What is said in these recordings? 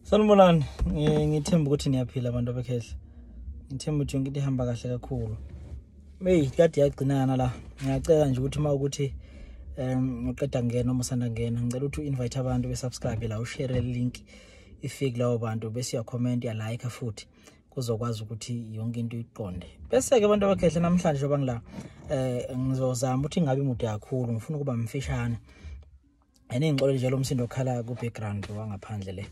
sanibonani ngithemba ukuthi niyaphila abantu abekhehla ngithemba ukuthi yonke into ihamba kahle kakhulu meyi kade yagcinana la ngiyacela nje ukuthi uma ukuthi um uqeda ngena uma usanda ngena ngicela ukuthi u-invite abantu besubscribe la ushere link ifike lawo bantu bese uyakhomenta uyalike futhi kuzokwazi ukuthi yonke into iqonde bese-ke abantu abakhehle namhlanje njengoba ngila um ngizozama ukuthi ingabi mude kakhulu ngifuna ukuba mfishane and ingixole nje lo msindo okhala ku background wangaphandle le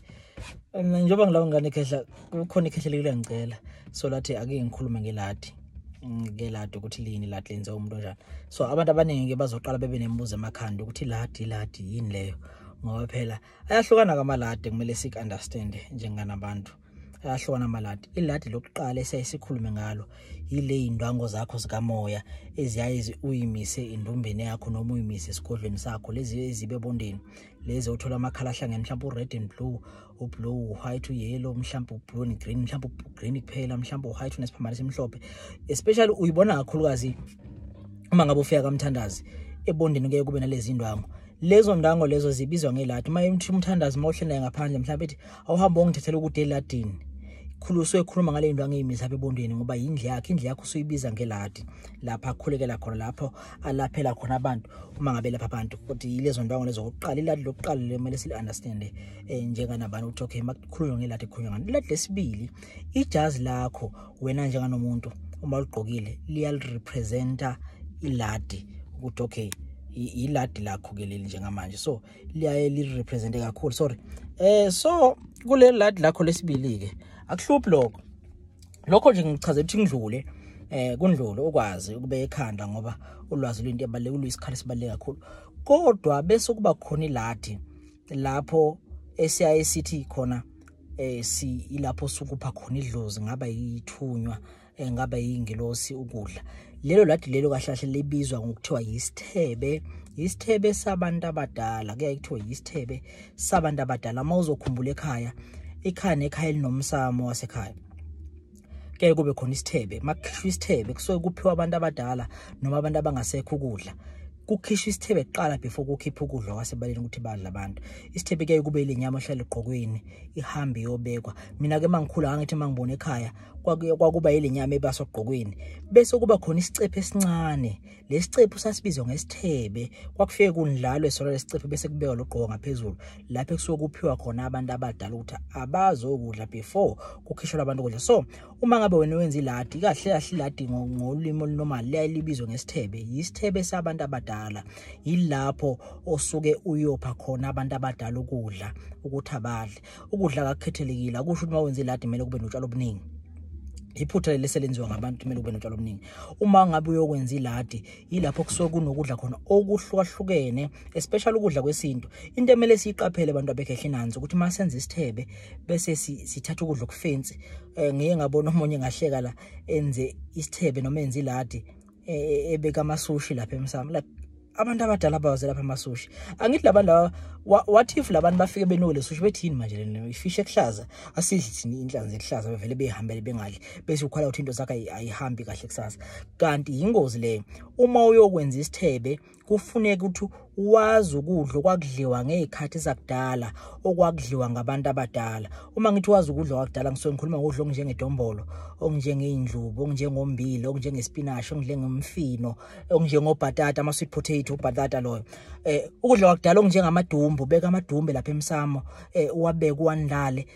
njengoba ngilawo ngane khehla kukhona ikhehla lekule ngicela so lathi ake ngikhulume ngeladi ngeke ladi ukuthi lini ladi lenze umuntu onjani so abantu abaningi ke bazoqala bebe nemibuzo emakhanda ukuthi ladi ladi yini leyo ngoba phela ayahlukana kamaladi kumele sik understand njenganabantu ayahlukana amaladi iladi lokuqala esiyayisikhulume ngalo yile yindwango zakho zikamoya eziyaye uyimise endombeni yakho noma uyimise esigodlweni sakho lezi ezibe bondeni lezi othola amakhala ahlangene mhlawumbe u-red and blue ublue u-white uyellow mhlawumbe ublue and green mhlawumbe ugreen kuphela mhlawumbe u-white unesiphambano esimhlophe especially uyibona kakhulukazi uma ngabe ufika kamthandazi ebondeni kuye kube nalezi ndwango lezo ndango lezo zibizwa ngelati uma umthandazi uma uhlelayo ngaphandle mhlawumbe ethi awuhambe ongithethela ukuthi eladini khuluswe ekhuluma ngale nto angiyimisa apha ebondweni ngoba yindle yakhe indle yakho usuyibiza ngeladi lapha akhulekela khona lapho alaphela khona abantu uma ngabe lapha abantu kodwa yilezo ndwango lezo kokuqala iladi lokuqala lemele sili-understande um njenganabani ukuthi okay makukhulunywa ngeladi ekhulunywa ngani iladi lesibili ijazi lakho wena njenganomuntu uma ligqokile liyalirepresenta iladi ukuthi okay yiladi lakho-ke leli njengamanje so liyaye lirepresente kakhulu sorry eh so kuleli lad lakho lesibili ke akuhluphi lokho lokho nje ngichaze ukuthi ngidlule eh kundlulo ukwazi ukube ekhanda ngoba ulwazi lwento ebaleke uluyisikhala sibaleke kakhulu kodwa bese kuba khona iladi lapho esiyaye sithi khona eh si ilapho sukupha khona idlozi ngaba yithunywa eh, ngaba yingelosi ukudla lelo ladi lelo kahle kahle libizwa ngokuthiwa yisithebe yisithebe sabantu abadala kuyaye kuthiwa yisithebe sabantu abadala uma uzokhumbula ekhaya ikhaya nekhaya elinomsamo wasekhaya kuyaye kube khona isithebe makukhishwa isithebe kusuke kuphiwa abantu abadala noma abantu abangasekho ukudla kukhishwa isithebe kuqala before kukhipha ukudla kwasebaleni ukuthi badla abantu isithebe kuyaye kube ile nyama ohlala egqokweni ihambe iyobekwa mina-ke uma ngikhula ngangithi uma ngibona ekhaya kwakuba ilenyama ebasa ogqokweni bese kuba khona isicephe esincane lesicephu sasibizwa ngesithebe kwakufike kunjalo esona lesicephu bese kubeka logqoko ngaphezulu lapho kusuke kuphiwa khona abantu abadala ukuthi abazokudla before kukhishelwa abantu ukudla so uma ngabe wena wenza iladi kahle kahle iladi ngolimi olunormal liyayilibizwa ngesithebe yisithebe sabantu abadala yilapho osuke uyopha khona abantu abadala ukudla ukuthi abadle ukudla kakukhethelekile akusho ukuthi uma wenze iladi kumele kube notshalo obuningi iphutha leli selenziwa ngabantu kumele kube notshalo obuningi uma ngabe uyokwenza iladi yilapho kusuke kunokudla khona okuhlukahlukene especially ukudla kwesintu into emele siyiqaphele abantu abekhehle nanzi ukuthi uma senza isithebe bese sithatha ukudla okufensi um eh, ngiye ngabona omunye ngahleka la enze isithebe noma enze iladi e, e, ebeka amasushi lapha emsamo like abantu abadala bawaze lapha amasushi angithi labantu laba what if labantu bafike benole sushi bethini manje lena ifish ekuhlaza asidli thini inhlanzi ekuhlaza bevele behambele bengadli bese ukhala ukuthi into zakhe ayihambi kahle kusasa kanti yingozi leyo uma uyokwenza isithebe kufuneka ukuthi wazi ukudla okwakudliwa ngezikhathi zakudala okwakudliwa ngabantu abadala uma ngithi wazi ukudla kwakudala ngisuke ngikhuluma ngokudla okunjengedombolo okunjengeindlubu okunjengombili okunjengespinashi okunjengomfino okunjengobhatata ama sweet potato ubhatata loyo eh ukudla kwakudala okunjengamadumbu beka amadumbe lapha emsamo eh uwabeke uwanilale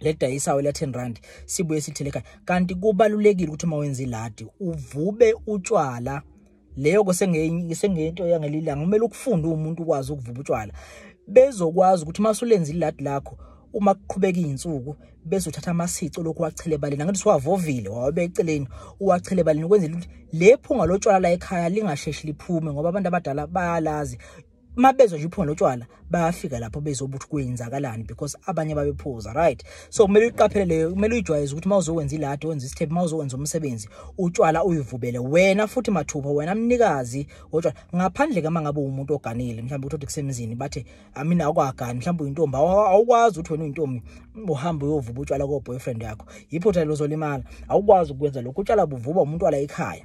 ledayisawo la 10 rand sibuye sithele ekhaya kanti kubalulekile ukuthi uma wenza iladi uvube utshwala leyo ke sengeyinto yangelilanga kumele ukufunde umuntu ukwazi ukuvuba utshwala bezokwazi ukuthi uma usulenza iladi lakho uma kuqhubeka izinsuku bese uthatha amasico lokhu wachele ebaleni ngathi siwavovile wawabe eceleni uwachele ebaleni ukwenzela ukuthi lephunga lotshwala la ekhaya lingasheshi liphume ngoba abantu abadala bayalazi uma bezwa nje uphunga lotshwala bayafika lapho bezoba ukuthi kwenzakalani because abanye babephuza right so kumele uyiqaphele leyo kumele uyijwayeze ukuthi uma uzokwenza iladi wenza isithephi uma uzokwenza umsebenzi utshwala uyivubele wena futhi mathupha wena mnikazi wotshwala ngaphandle kama ngabe umuntu oganile mhlawumbe uthi kusemzini bathe amina akwagani mhlawumbe uyintombi awukwazi ukuthi wena uyintombi uhambe uyovuba utshwala ko boyfriend yakho yiphutha lozolimala awukwazi ukwenza lokho utshwala buvuba umuntu wala ekhaya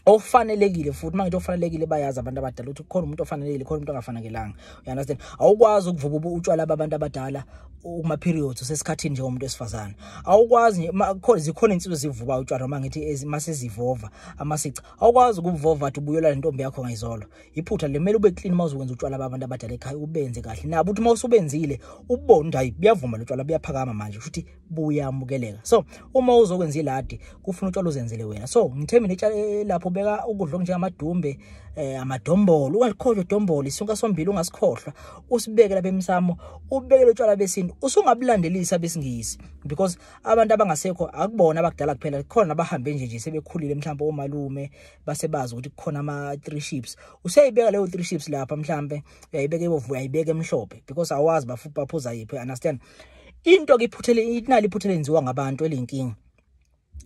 ofanelekile futhi manje ofanelekile bayazi abantu abadala ukuthi kukhona umuntu ofanelekile khona umuntu ongafanekelanga you understand awukwazi ukuvuba utshwala babantu abadala uma periods usesikhathini nje umuntu wesifazana awukwazi nje khona zikhona insizwe zivuba utshwala uma ngithi masezivova amasica awukwazi ukuvova athi ubuyela lentombi yakho ngayizolo iphutha lemele ube clean uma uzokwenza utshwala babantu abadala ekhaya ubenze kahle nabo uthi uma usubenzile ubone ukuthi hayi buyavuma lotshwala buyaphakama manje ukuthi buyamukeleka so uma uzokwenza iladi kufuna utshwala uzenzele wena so ngithembile itshala eh, lapho ubeka ukudla okunjengamadumbe eh amadombolo ungalikhohlwa idombolo isunka sombili ungasikhohlwa usibeke lapha emsamo ubeke lotshwala besintu usungabulandelisa besingisi because abantu abangasekho akubona abakudala kuphela khona abahambe nje nje sebekhulile mhlawumbe omalume basebazi ukuthi kukhona ama three ships useyibeka leyo three ships lapha mhlawumbe uyayibeka ibovu uyayibeka emhlophe because awazi baphuza yiphi understand into ke iphuthele inali iphutha lenziwa ngabantu elinkingi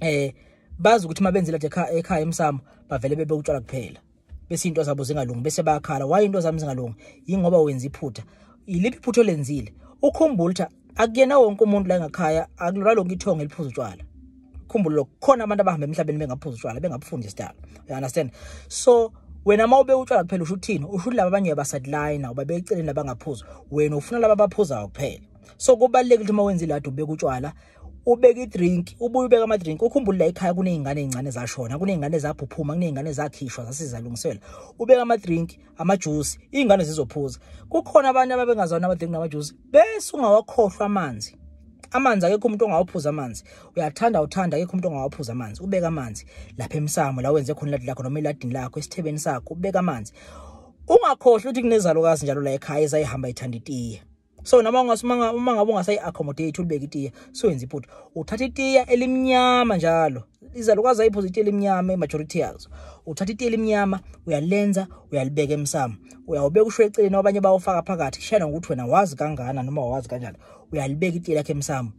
eh bazi ukuthi mabenzela nje ekhaya emsamo bavele bebe utshwala kuphela bese into zabo zingalungi bese bayakhala why into zami zingalungi yingoba wenza iphutha iliphi iphutha olenzile ukhumbula ukuthi akuyena wonke umuntu la ngakhaya akulona lonke ithonga eliphuza utshwala khumbula lokho khona abantu abahamba emhlabeni bengaphuza utshwala bengabufundi isidalo you understand so wena uma ube utshwala kuphela usho uthini usho ukuthi laba abanye uyabasadlina uba beceleni abangaphuzi wena ufuna laba abaphuzayo kuphela so kubalulekile ukuthi uma wenza iladi ubeka utshwala ubeka idrink ubuye ubeka amadrink ukhumbule la ekhaya kuney'ngane ey'ncane zashona kuney'ngane zaphuphume kuney'ngane zakhishwa zasizalungisela ubeka amadrink amajuice ingane zizophuza kukhona abantu ababengazwana abadinga amajuice bese ungawakhohlwa amanzi amanzi akekho umuntu ongawaphuza amanzi uyathanda uthanda akekho umuntu ongawaphuza amanzi ubeka amanzi lapha emsamo la wenze khona iladi lakho noma eladini lakho esithebeni sakho ubeka amanzi ungakhohlwa ukuthi kunezalukazi njalo la ekhaya ezayihamba ithanda itiye so noma ungasimanga uma ngabe ungasayi accommodate ulibeke itiya so yenza iphutha uthatha itiya elimnyama njalo izalukazi ayiphuza itiya elimnyama imajority yazo uthatha itiya elimnyama uyalenza uyalibeka emsamo uyawubeka usho eceleni abanye bawufaka phakathi shayela ngokuthi wena wazi kangana noma wazi kanjani uyalibeka itiya lakhe emsamo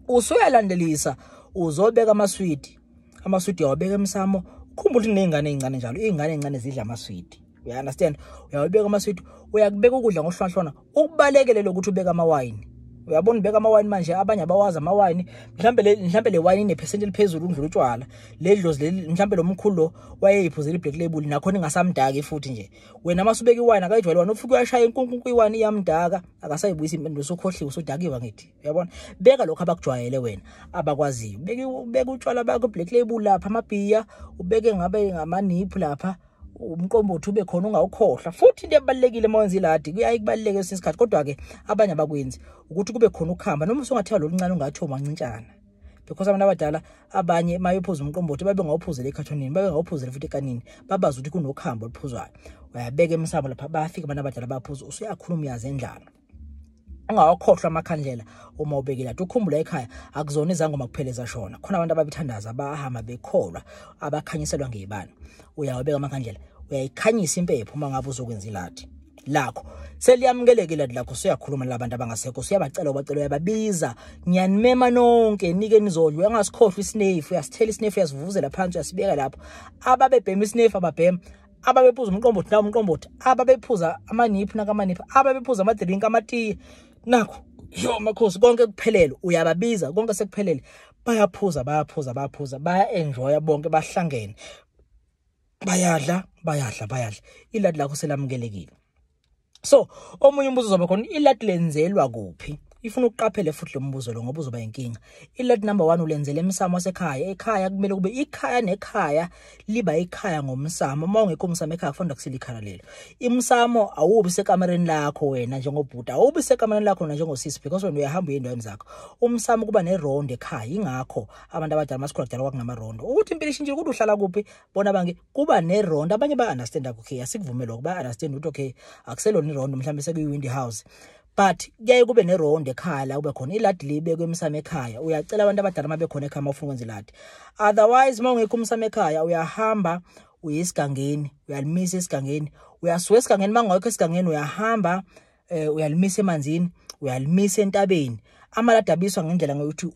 usuyalandelisa uzobeka amaswidi amaswidi uyawabeka emsamo ukhumbula ukuthi kuney'ngane ey'ncane njalo iy'ngane ey'ncane zidla amaswidi uya understand uyawubeka amaswidi uyakubeka ukudla ngohlwanhlwana ukubalekele lokuthi ubeka amawayini uyabona ubeka amawayini manje abanye abawazi amawayini mhlambe le mhlambe le wayini inephesenti eliphezulu ukudlula utshwala le dlozi leli mhlambe lo mkhulu lo wayeyiphuzela iblack label nakhona ingasamdaki futhi nje wena masubeka iwayini akayijwayele wena ufike uyashaya inkunkunku iwayini iyamdaka akasayibuyisa impendulo sokhohliwe usudakiwe ngithi uyabona beka lokho abakujwayele wena abakwaziyo beka ubeka utshwala bakho black label lapha amabhiya ubeke ngabe ngamaniphu lapha umqombothi ube khona ungawukhohlwa futhi into ebalekile uma wenza iladi kuyaye kubaleke esinye isikhathi kodwa ke abanye abakwenzi ukuthi kube khona ukuhamba noma usungathiwa loluncane ungathi omancincana because abantu abadala abanye mayophuza umqombothi babe ngawuphuzela ekhathonini babe ngawuphuzela futhi ekanini babazi ukuthi kunokuhamba oluphuzwayo uyabeka emsamo lapha bafika abantu abadala baphuza usuyakhuluma uyazi endlala ungawakhohlwa amakhandlela uma ubekile athi ukhumbula ekhaya akuzona izangoma kuphela ezashona khona abantu ababithandaza abahamba bekholwa abakhanyiselwa ngeyibani uyawabeka amakhandlela uyayikhanyisa impepho uma ngabe uzokwenza ilathi lakho seliyamukeleke lati lakho siyakhuluma labantu abangasekho siyabacela ubacela uyababiza ngiyanimema nonke nike nizodla uyangasikhohlwa isinefu uyasithela isinefu uyasivuvuzela phansi uyasibeka lapho ababebhema isinefu ababhema ababephuza umqombothi na umqombothi ababephuza amaniphu nakamaniphu ababephuza amadrink amatiye nakho yo makhosi konke kuphelele uyababiza konke sekuphelele bayaphuza bayaphuza bayaphuza baya enjoya bonke bahlangene bayadla bayadla bayadla iladi lakho selamukelekile so omunye umbuzo uzoba khona ilat lenzelwa kuphi ifuna ukuqaphele futhi lo mbuzo lo ngoba uzoba inkinga ilat number 1 ulenzele emsamo sekhaya ekhaya kumele kube ikhaya nekhaya liba ikhaya ngomsamo uma ungekho umsamo ekhaya kufanele kusile ikhala lelo imsamo awubi sekamereni lakho wena njengobhuti awubi sekamereni lakho wena njengosisi because wena uyahamba uyendaweni zakho umsamo kuba nerondo ekhaya ingakho abantu abadala masikhula kudala kwakunamarondo ukuthi impilo ishintshile ukuthi uhlala kuphi bona bangi kuba neround abanye ba understand okay asikuvumela ukuba understand ukuthi okay akuselona iround mhlawumbe sekuyi windy house but kuyaye kube neround ekhaya la kube khona iladi libekwe emsamo ekhaya uyacela abantu abadala uma bekhona ekhaya uma ufuna ukwenza iladi otherwise uma ungekho umsamo ekhaya uyahamba uye esigangeni uyalimisa esigangeni uyasuka esigangeni uma ungekho esigangeni uyahamba eh uyalimisa emanzini uyalimisa entabeni amaladi abiswa ngendlela ngokuthi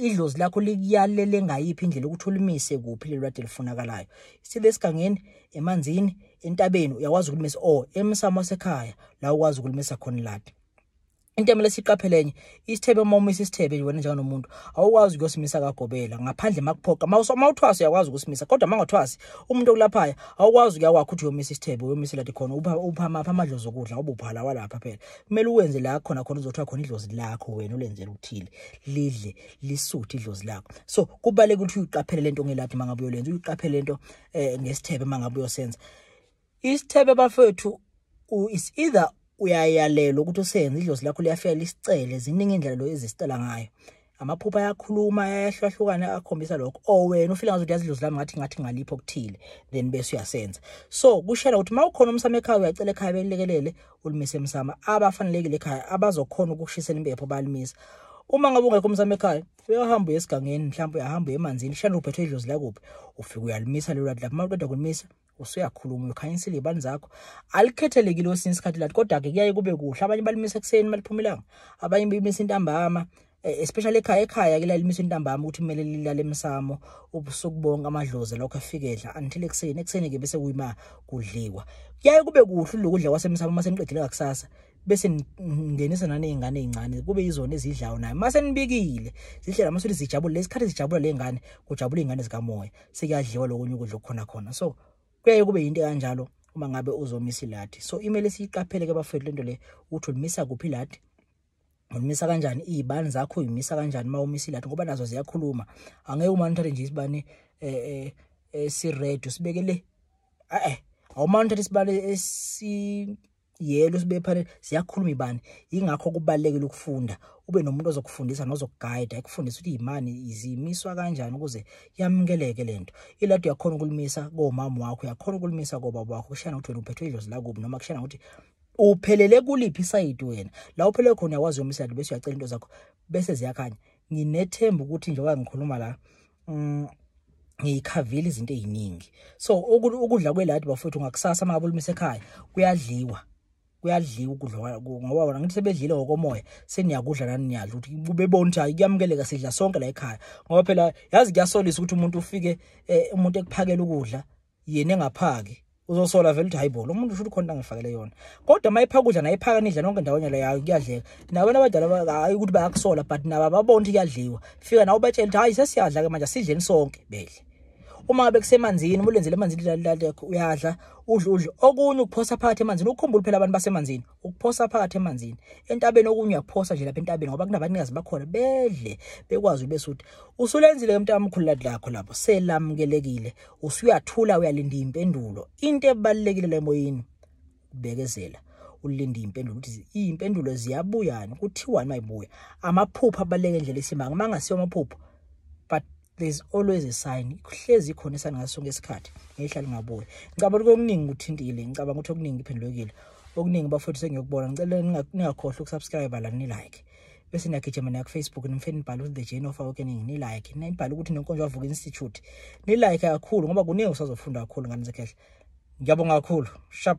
idlozi lakho likuyalele ngayiphi indlela ukuthi ulimise kuphi lelo lade lifunakalayo sithe esigangeni emanzini entabeni uyakwazi ukulimisa or emsamo sekhaya la ukwazi ukulimisa khona iladi into emele siqaphelenye isithebe uma umisa isithebe nje wena njenganomuntu awukwazi ukuyosimisa kagobela ngaphandle makuphoqa uma uthwasa uyakwazi ukusimisa kodwa uma ngothwasi umuntu okulaphaya awukwazi ukuya kwakho uthi uyomisa isithebe uyomisela ti khona upha maphi amadlozi okudla ubuphala walapha phela kumele uwenze la khona khona uzothiwa khona idlozi lakho wena ulenzela ukuthile lidle lisuthe idlozi lakho so kubaleka ukuthi uyiqaphele lento ngeladi mangabe uyolenza uyiqaphele lento eh ngesithebe mangabe uyosenza Isithebe bafethu u is either uyayalelwa ukuthi usenze idlozi lakho liyafika lisicele ziningi indlela lo ezisicela ngayo amaphupha ayakhuluma ayahlwahlukana akhombisa lokho o oh, wena ufile ngazo uyazi idlozi lami ngathi ngathi ngalipho okuthile then bese uyasenza so kushela ukuthi mawukhona umsama ekhaya uyacela ekhaya belekelele ulimise emsama abafanelekile ekhaya abazokhona ukushisela impepho balimisa uma ngabe ungekho umsama ekhaya uyahamba uyesigangeni mhlawumbe uyahamba uyemanzini shana uphethwe idlozi lakuphi ufike uyalimisa lelo lapho mawuqeda kulimisa usuyakhuluma uyokhanyisile ibani zakho alikhethelekile osinye isikhathi lathi kodwa-ke kuyaye kube kuhle abanye balimisa ekuseni baliphumelanga abanye bimisa intambama eh, especially ekhaya ekhaya ke lalimisa intambama ukuthi kumele lilale emsamo ubusuku bonke amadlozi lokho efike edla until ekuseni ekuseni-ke bese kuyima kudliwa kuyaye kube kuhle lokudla kwasemsamo uma seniqedile kakusasa bese ngenisa naney'ngane ey'ncane kube yizona ezidlayo nayo uma senibikile zidlela masuthi zijabule lesikhathi zijabula ley'ngane kujabula iy'ngane zikamoya sekuyadliwa lokunye ukudla okukhona khona so kuyaye kube yinto kanjalo uma ngabe uzomisa iladi so imele siyiqaphele ke bafethu lento le ukuthi ulimisa kuphi iladi ulimisa kanjani izibani zakho uyimisa kanjani uma umisa iladi ngoba nazo ziyakhuluma angeke uma nithathe nje isibani eh eh, eh si red usibeke le eh awuma nithathe isibani esi yelo sibephane siyakhuluma ibani ingakho kubalekile ukufunda ube nomuntu ozokufundisa nozokuguide ekufundisa ukuthi imani izimiswa kanjani ukuze yamukeleke lento ilado yakhona ukulimisa komama wakho yakhona ukulimisa kobaba wakho kushana ukuthi wena uphethwe idlozi lakubi noma kushana ukuthi uphelele kuliphi isayidi wena la uphelele khona uyawazi yomisa bese uyacela into zakho bese ziyakhanya nginethemba ukuthi njengoba ngikhuluma la mm, ngiyikhavile izinto eziningi so ukudla kweladi bafowethu ngakusasa makabe ulumisa ekhaya kuyadliwa kuyadliwa ukudla ngoba wona ngithi sebedlile ngokomoya seniyakudla nani niyadla ukuthi bebona ukuthi hayi kuyamukeleka sidla sonke la ekhaya ngoba phela yazi kuyasolisa ukuthi umuntu ufike eh, umuntu ekuphakela ukudla yena engaphaki uzosola vele ukuthi hayibo lo muntu usho ukuthi khona angifakele yona kodwa uma ephaka ukudla naye ephaka nidla nonke ndawonye leyo hayi kuyadleka nabantu abadala hayi ukuthi bayakusola but nabo ababona ukuthi kuyadliwa fika nawe ubatshela ukuthi hayi sesiyadla-ke manje asidleni sonke bedle uma ngabe kusemanzini uma ulenzile emanzini uyadla udle udle okunye ukuphosa phakathi emanzini ukhumbule phela abantu basemanzini ukuphosa phakathi emanzini entabeni okunye uyaphosa nje lapha entabeni ngoba kunabanikazi bakhona bedle bekwazi ube suthi usulenzile ke mntana omkhulu lad lakho lapho selamukelekile usuyathula uyalinda impendulo into ebalekile le moyini ubekezela ulinda impendulo ukuthi impendulo ziyabuyana kuthiwani mayibuya amaphupho abaleke nje lesimanga mangasiyo amaphupho but there's always a sign kuhlezi khona isani ngaso sonke isikhathi ngehlala ungabuyi ngicabanga ukuthi okuningi kuthintile ngicabanga ukuthi okuningi kuphendulekile okuningi bafowethu sengiyokubona ngicela ningakhohlwa ukusubscribe la nilike bese niyagijima nayo kufacebook nimfeni nibhale ukuthi the journey of awakening nilike nibhale ukuthi nenkonzo yavuka institute nilike kakhulu ngoba kuningi usazofunda kakhulu ngane zekhehle ngiyabonga kakhulu shap